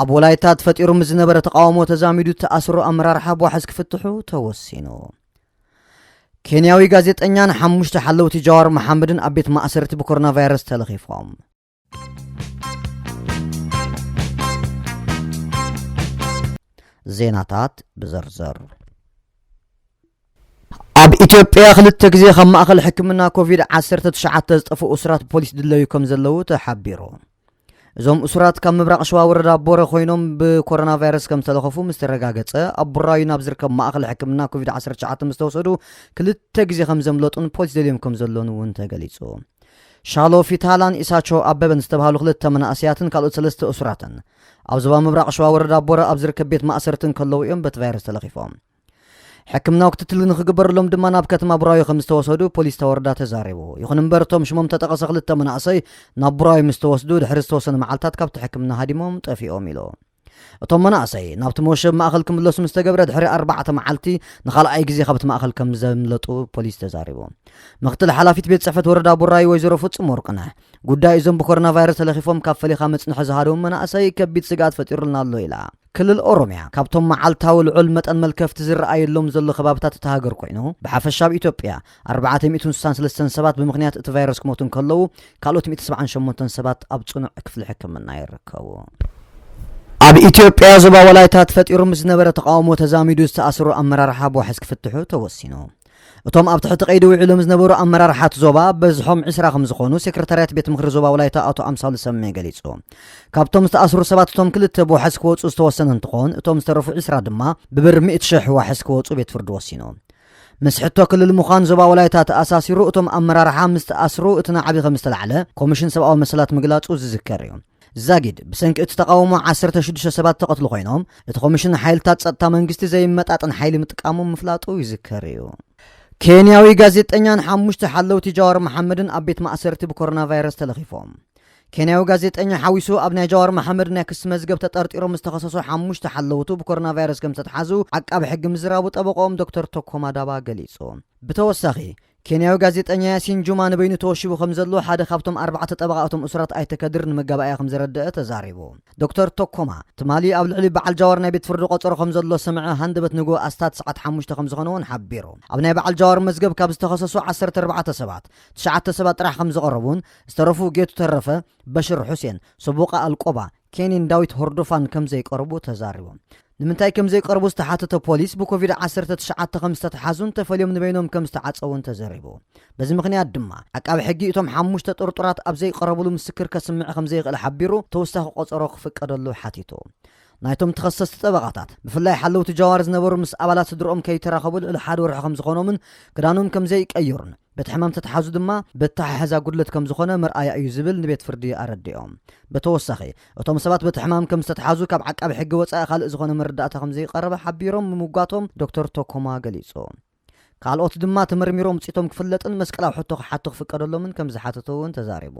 ኣብ ወላይታ ተፈጢሩ ምስ ዝነበረ ተቃውሞ ተዛሚዱ ተኣስሮ ኣመራርሓ ቧሕስ ክፍትሑ ተወሲኑ ኬንያዊ ጋዜጠኛን ሓሙሽተ ሓለውቲ ጃዋር መሓመድን ኣብ ቤት ማእሰርቲ ብኮሮና ቫይረስ ተለኺፎም ዜናታት ብዝርዝር ኣብ ኢትዮጵያ ክልተ ግዜ ካብ ማእኸል ሕክምና ኮቪድ-19 ዝጠፍኡ እሱራት ፖሊስ ድለዩ ከም ዘለዉ ተሓቢሩ እዞም እሱራት ካብ ምብራቕ ሸዋ ወረዳ ቦረ ኮይኖም ብኮሮና ቫይረስ ከም ዝተለኸፉ ምስ ተረጋገጸ ኣብ ቡራዩ ናብ ዝርከብ ማእኸል ሕክምና ኮቪድ-19 ምስ ተወሰዱ ክልተ ግዜ ከም ዘምለጡን ፖሊስ ደልዮም ከም ዘሎን እውን ተገሊጹ። ሻሎ ፊታላን ኢሳቾ ኣበበን ዝተባሃሉ ክልተ መናእሰያትን ካልኦት ሰለስተ እሱራትን ኣብ ዞባ ምብራቕ ሸዋ ወረዳ ቦረ ኣብ ዝርከብ ቤት ማእሰርቲ እንከለዉ እዮም በቲ ቫይረስ ተለኺፎም። ሕክምናዊ ክትትል ንክግበረሎም ድማ ናብ ከተማ ቡራዩ ከም ዝተወሰዱ ፖሊስ ተወረዳ ተዛሪቡ። ይኹን እምበር እቶም ሽሞም ተጠቐሰ ክልተ መናእሰይ ናብ ቡራዩ ምስ ተወስዱ ድሕሪ ዝተወሰነ መዓልታት ካብቲ ሕክምና ሃዲሞም ጠፊኦም ኢሉ። እቶም መናእሰይ ናብቲ መወሸቢ ማእኸል ክምለሱ ምስ ተገብረ ድሕሪ ኣርባዕተ መዓልቲ ንኻልኣይ ግዜ ካብቲ ማእኸል ከም ዘምለጡ ፖሊስ ተዛሪቡ። ምክትል ሓላፊት ቤት ፅሕፈት ወረዳ ቡራዩ ወይዘሮ ፍፁም ወርቅነህ ጉዳይ እዞም ብኮሮና ቫይረስ ተለኺፎም ካብ ፈሊኻ መፅንሒ ዝሃደሙ መናእሰይ ከቢድ ስግኣት ፈጢሩልና ኣሎ ኢላ። ክልል ኦሮሚያ ካብቶም መዓልታዊ ልዑል መጠን መልከፍቲ ዝረኣየሎም ዘሎ ከባብታት እታ ሃገር ኮይኑ፣ ብሓፈሻ ኣብ ኢትዮጵያ ኣርባዕተ ሚእትን ስሳን ሰለስተን ሰባት ብምኽንያት እቲ ቫይረስ ክሞቱ እንከለዉ፣ ካልኦት ሚእቲ ሰብዓን ሸሞንተን ሰባት ኣብ ጽኑዕ ክፍሊ ሕክምና ይርከቡ። ኣብ ኢትዮጵያ ዞባ ወላይታ ተፈጢሩ ምስ ዝነበረ ተቓውሞ ተዛሚዱ ዝተኣስሩ ኣመራርሓ ብዋሕስ ክፍትሑ ተወሲኑ። እቶም ኣብ ትሕቲ ቀይዲ ውዒሎም ዝነበሩ ኣመራርሓት ዞባ በዝሖም ዕስራ ከም ዝኾኑ ሴክረታርያት ቤት ምክሪ ዞባ ወላይታ ኣቶ ኣምሳሉ ሰሜ ገሊጹ። ካብቶም ዝተኣስሩ ሰባት እቶም ክልተ ብዋሕስ ክወፁ ዝተወሰነ እንትኾን እቶም ዝተረፉ ዕስራ ድማ ብብር ሚእቲ ሽሕ ዋሕስ ክወፁ ቤት ፍርዲ ወሲኑ። ምስ ሕቶ ክልል ምዃን ዞባ ወላይታ ተኣሳሲሩ እቶም ኣመራርሓ ምስ ተኣስሩ እቲ ናዕቢ ከም ዝተላዕለ ኮሚሽን ሰብኣዊ መሰላት ምግላጹ ዝዝከር እዩ። ዛጊድ፣ ብሰንኪ እቲ ተቓውሞ ዓሰርተ ሽዱሽተ ሰባት ዝተቐትሉ ኮይኖም፣ እቲ ኮሚሽን ሓይልታት ጸጥታ መንግስቲ ዘይመጣጠን ሓይሊ ምጥቃሙ ምፍላጡ ይዝከር እዩ። ኬንያዊ ጋዜጠኛን ሓሙሽተ ሓለውቲ ጃዋር መሓመድን ኣብ ቤት ማእሰርቲ ብኮሮናቫይረስ ተለኺፎም። ኬንያዊ ጋዜጠኛ ሓዊሱ ኣብ ናይ ጃዋር መሓመድ ናይ ክሲ መዝገብ ተጠርጢሮም ዝተኸሰሱ ሓሙሽተ ሓለውቱ ብኮሮናቫይረስ ከምዝተትሓዙ ዓቃቢ ሕጊ ምዝራቡ ጠበቕኦም ዶክተር ቶኮማ ዳባ ገሊጹ። ብተወሳኺ ኬንያዊ ጋዜጠኛ ያሲን ጁማ ንበይኑ ተወሺቡ ከም ዘሎ ሓደ ካብቶም ኣርባዕተ ጠበቓ እቶም እሱራት ኣይተ ከድር ንመጋባእያ ከም ዘረደኣ ተዛሪቡ። ዶክተር ቶኮማ፣ ትማሊ ኣብ ልዕሊ በዓል ጃዋር ናይ ቤት ፍርዲ ቆጸሮ ከም ዘሎ ሰምዐ፣ ሃንደበት ንግሆ ኣስታት ሰዓት ሓሙሽተ ከም ዝኾነ እውን ሓቢሩ። ኣብ ናይ በዓል ጃዋር መዝገብ ካብ ዝተኸሰሱ ዓሰርተ ኣርባዕተ ሰባት፣ ትሽዓተ ሰባት ጥራሕ ከም ዝቐረቡን ዝተረፉ ጌቱ ተረፈ፣ በሽር ሑሴን፣ ሰቡቓ ኣልቆባ፣ ኬኒን ዳዊት ሆርዶፋን ከም ዘይቀረቡ ተዛሪቦም። ንምንታይ ከም ዘይቀረቡ ዝተሓተተ ፖሊስ፣ ብኮቪድ ዓሰርተ ትሽዓተ ከም ዝተትሓዙን ተፈልዮም ንበይኖም ከም ዝተዓጸዉን ተዘሪቡ። በዚ ምኽንያት ድማ፣ ዓቃቢ ሕጊ እቶም ሓሙሽተ ጥርጡራት ኣብ ዘይቀረብሉ ምስክር ከስምዕ ከም ዘይኽእል ሓቢሩ ተወሳኺ ቆጸሮ ክፍቀደሉ ሓቲቱ። ናይቶም ተኸሰስቲ ጠበቓታት፣ ብፍላይ ሓለውቲ ጃዋር ዝነበሩ ምስ ኣባላት ስድርኦም ከይተራኸቡ ልዕሊ ሓደ ወርሒ ከም ዝኾኖምን ክዳኖም ከም ዘይቀየሩን፣ በቲ ሕማም ተተሓዙ ድማ በተሓሕዛ ጉድለት ከም ዝኾነ መርኣያ እዩ ዝብል ንቤት ፍርዲ ኣረዲኦም። በተወሳኺ እቶም ሰባት በቲ ሕማም ከም ዝተትሓዙ ካብ ዓቃቢ ሕጊ ወፃኢ ካልእ ዝኾነ መረዳእታ ከም ዘይቐረበ ሓቢሮም ምምጓቶም ዶክተር ቶኮማ ገሊፁ። ካልኦት ድማ ተመርሚሮም ውፅኢቶም ክፍለጥን መስቀላዊ ሕቶ ክሓቱ ክፍቀደሎምን ከም ዝሓተቱ እውን ተዛሪቡ።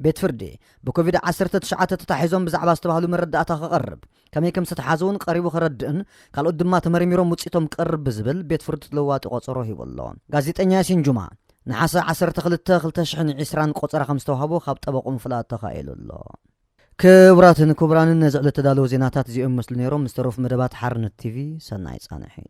ቤት ፍርዲ ብኮቪድ ዓሰርተ ትሽዓተ ተታሒዞም ብዛዕባ ዝተባህሉ መረዳእታ ክቐርብ፣ ከመይ ከም ዝተትሓዙ'ውን ቀሪቡ ከረድእን ካልኦት ድማ ተመርሚሮም ውጽኢቶም ክቐርብ ብዝብል ቤት ፍርዲ ተለዋጢ ቆጸሮ ሂቡ ኣሎ። ጋዜጠኛ ያሲን ጁማ፣ ነሓሰ ዓሰርተ ክልተ ክልተ ሽሕን ዒስራን ቆጸራ ከም ዝተውሃቦ ካብ ጠበቕኡ ምፍላጥ ተኻኢሉ ኣሎ። ክቡራትን ክቡራንን ነዚ ዕለት ተዳለዉ ዜናታት እዚኦም ይመስሉ ነይሮም። ምስ ተረፉ መደባት ሓርነት ቲቪ ሰናይ ጻንሒት።